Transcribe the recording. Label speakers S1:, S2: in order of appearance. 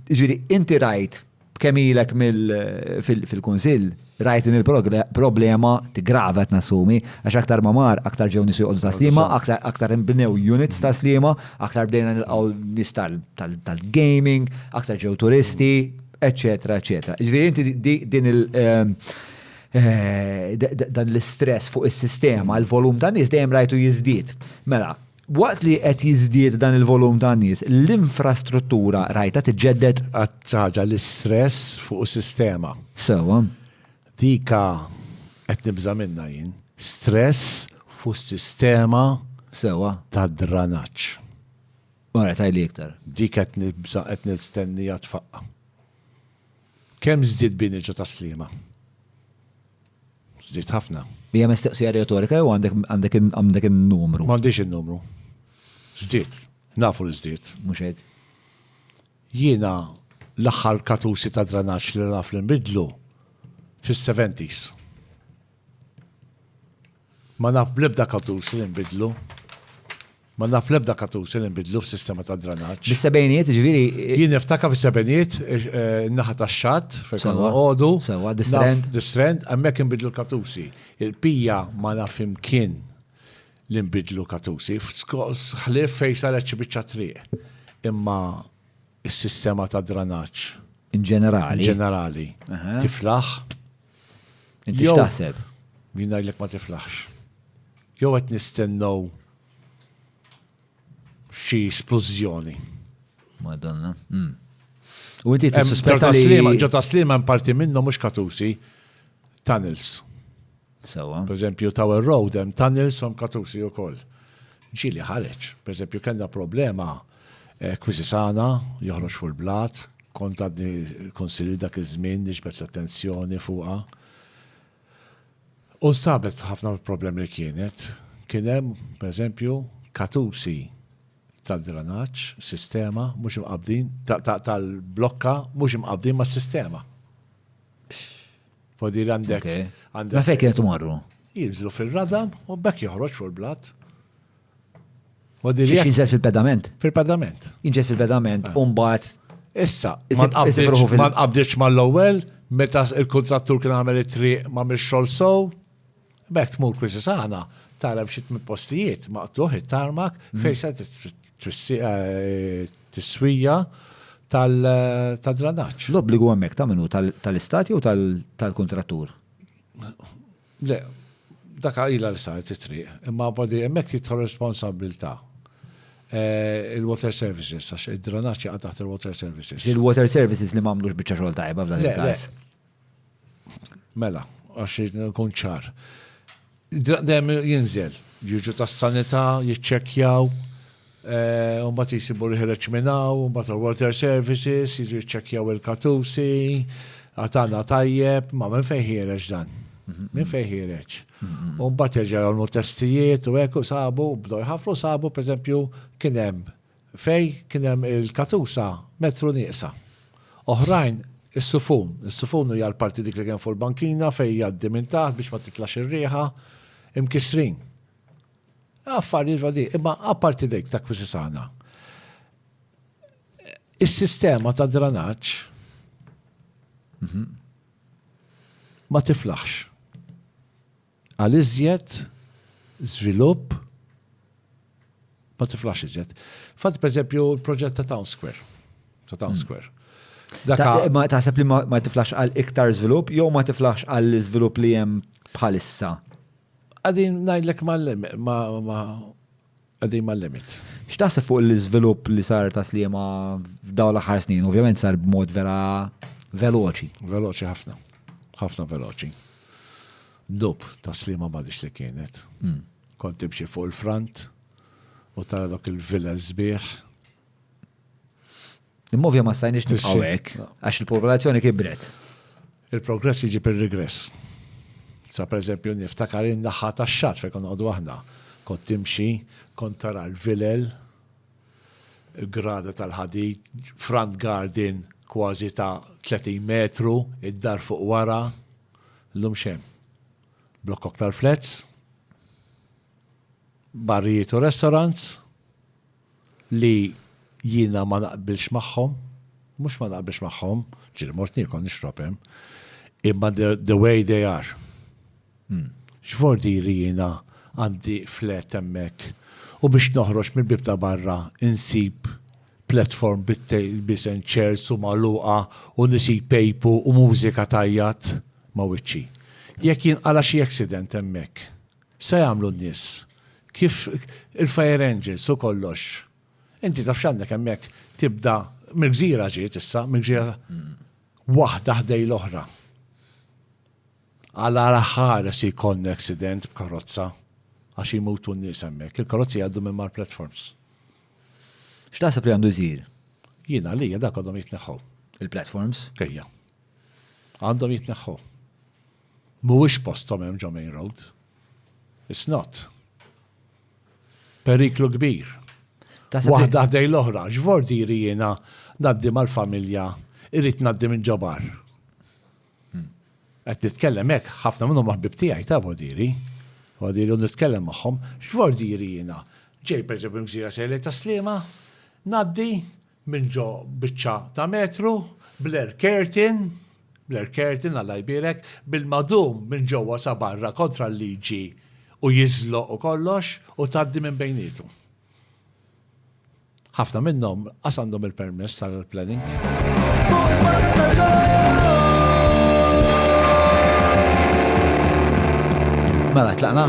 S1: Ġiri, inti rajt kemm ilek fil-kunsill, rajt din il-problema tigrava qed nassumi, għax aktar ma mar, aktar ġew nies joqogħdu ta' slima, aktar inbnew units ta' slima, aktar bdejna nilqgħu nies tal-gaming, aktar ġew turisti, eċċetera, eċċetera. Ġifieri inti din il- ehm, eh, dan l-istress fuq is-sistema, l-volum ta' nies dejjem rajtu jiżdied. Mela, Waqt li qed jiżdied dan il-volum ta' nies, l-infrastruttura rajtha tiġġedded? Għad xi ħaġa
S2: l-istress fuq is-sistema. Sewwa.
S1: Dik
S2: qed nibża' minnha jien. Stress fuq is-sistema. Sewwa.
S1: Tad-dranaġġ. Alright, għidli iktar. Dik qed nibża'
S2: qed nistenniha tfaqqa'. Kemm żdied bini ġo tas-Sliema? Żdied ħafna. Hija mistoqsija
S1: retorika jew għandek in-numru? M'għandix in-numru.
S2: Żdied. Nafu li żdied. Mhux hekk. Jiena l-aħħar katusi ta' dranaġġ li naf li nbidlu fis-70s. Ma naf bl-ebda katuż li nbidlu. Ma naf l-ebda katuż li nbidlu f'sistema ta' dranaġġ. Bis-sebgħinijiet, ġifieri.
S1: Jien niftakar
S2: fis-sebgħinijiet, in-naħa tax-xatt, fejn konna noqogħdu. Sewwa, distrend.
S1: Distrend, hemmhekk
S2: inbidlu l-katużi. Il-bqija ma naf imkien li nbidlu katużi, ħlief fejn saret xi biċċa triq. Imma s-sistema ta' dranaġġ. In ġenerali.
S1: In ġenerali.
S2: Tiflaħ.
S1: Inti Jew- x'taħseb? Min ngħidlek ma
S2: tiflaħx. Jew qed nistennew xi splużjoni. Madonna.
S1: Mm. U inti Hemm tissuspetta li. Ġotaslima, ġotaslima hemm parti
S2: minnhom mhux katusi, tunnels.
S1: Sewa. Per eżempju, Tower
S2: Road hemm tunnels u hemm katusi wkoll. Ġieli ħareġ. Per eżempju, kellna problema Quisisana, joħroġ fuq il-blat, kont għadni kunsilli dak iż-żmien niġbed l-attenzjoni fuqha. U nstabet f'ħafna mill-problemi li kienet. Kien hemm, pereżempju, katusi tad-dranaġġ, sistema, mhux imqabbdin, tal-blokka mhux imqabbdin mas-sistema. Fodi li għandek. Ma fejn kienet
S1: imorru? Jinżlu fir-radam
S2: u bekk joħroġ fuq il-blat. Xiex
S1: jinżel fil-pedament? Fil-pedament. Jinġel
S2: fil-pedament,
S1: ah. umbat. Issa,
S2: ma nqabdiċ ma l-ewwel, meta il-kontrattur kien għamel it-triq ma mil xol sow, bekk tmur kwisi saħna, tara bxiet minn postijiet, ma qtluħ it-tarmak, mm. fejsa eh, tiswija tal-dranaċ. L-obbligu għemmek ta' minu
S1: tal-istati u tal-kontrattur?
S2: Le, dak ilha li saret it-triq, imma apparti hemmhekk tidħol responsabbiltà il-Water Services għax id-dranaġġ jaqa' taħt il-Water Services. Il-Water Services li
S1: m'għamlux biċċa xogħol tajba f'dan il-każ.
S2: Mela, għax ikun ċar. Dejjem jinżel, jiġu tas-sanità, jiċċekkjaw, u mbagħad jsibu l-ħireġ minn hawn, u mbagħad il-water services jiġu jiċċekkjaw il-katusi, għatana tajjeb, ma minn fejn ħireġ dan? Minn fejn ħireġ? U mbagħad jerġa' jagħmlu testijiet u hekk u sabu, bdew jħafru sabu pereżempju kien hemm fej kien hemm il-katusa metru nieqsa. Oħrajn is-sufun, is-sufun hija l-parti dik li kien fuq il-bankina fejn jgħaddi minn taħt biex ma titlax ir-riħa, imkissrin. Affarijiet vadi, imma apparti dik ta' Kwisisana, is-sistema ta' dranaġġ mhm. ma tiflaħx. Għal iżjed, żvilupp, ma tiflax iżjed. Fat, per eżempju, il-proġett ta' Town Square. Ta' Town hmm. Square. Ma
S1: taħseb li ma tiflax għal iktar żvilupp jew ma tiflax għal iżvilupp li hemm bħalissa? Qegħdin
S2: ngħidlek qegħdin mal-limit. X'taħseb fuq
S1: l-iżvilupp li sar ta' Sliema f'dawn l-aħħar snin? Ovvjament sar b'mod vera veloċi. Veloċi ħafna.
S2: Ħafna veloċi. Dub ta' Sliema m'għadix li kienet. Hmm. Kont tibxi fuq il-front u tara dok il-villas sbieħ
S1: Immovja ma stajniex nibqgħu hekk għax il-popolazzjoni kibret. Il-progress
S2: jiġi per-regress. Sa per eżempju niftakar in-naħa tax-xatt fejn konna qogħdu aħna. Kont timxi, kont tara l-vilel, il-grada tal-ħadid, front garden kważi ta' 30 metru, id-dar fuq wara, llum xejn. Blokk aktar flats, barrijiet u restaurants, li jiena ma naqbilx magħhom, mhux ma naqbilx magħhom, ġieli mort niekol nixrob hemm, imma the way they are. X'vordi li jiena għandi flat hemmhekk u biex noħroġ mill-bieb ta' barra insib platform bit-tables and chairs u magħluqa u nies jpejpu u mużika tgħajjat ma' wiċċi. Jekk jinqala' xi accident hemmhekk, X'se jagħmlu n-nies? Kif il-fire engines u kollox. Inti taf x'għandek hemmhekk tibda mill-gżira ġiet issa, mill-gżira waħda ħdej l-oħra. Għala raħħares jkollna accident b'karozza għax jmutu n-nies hemmhekk. Il-karozzi jgħaddu minn mar platforms.
S1: X'taħseb li għandu jsir? Jiena li
S2: dak għandhom jitneħħu. Il-platforms?
S1: Kejja.
S2: Għandhom jitneħħu. Mhuwiex posthom hemm ġo Main Road. It's not. Periklu kbir. Waħda ħdejn l-oħra, x'vordieri jiena ngħaddi mal-familja irrid ngħaddi minn ġo bar. Hmm. Qed nitkellem hekk ħafna minnhom ħbib tiegħi ta' vordieri. Vordieri u nitkellem magħhom, x'vordieri jiena. Ġej pereżempju mżira sejlej ta' slima, ngħaddi minn ġo biċċa ta' metru, bl-air curtain, bl-air curtain Alla jbierek, bil-madum minn ġewwa sa barra kontra l-liġi u jiżloq u kollox u tgħaddi minn bejniethom. Ħafna minnhom lanqas għandhom il-permess tal-planning.
S1: Mela, tlaqna?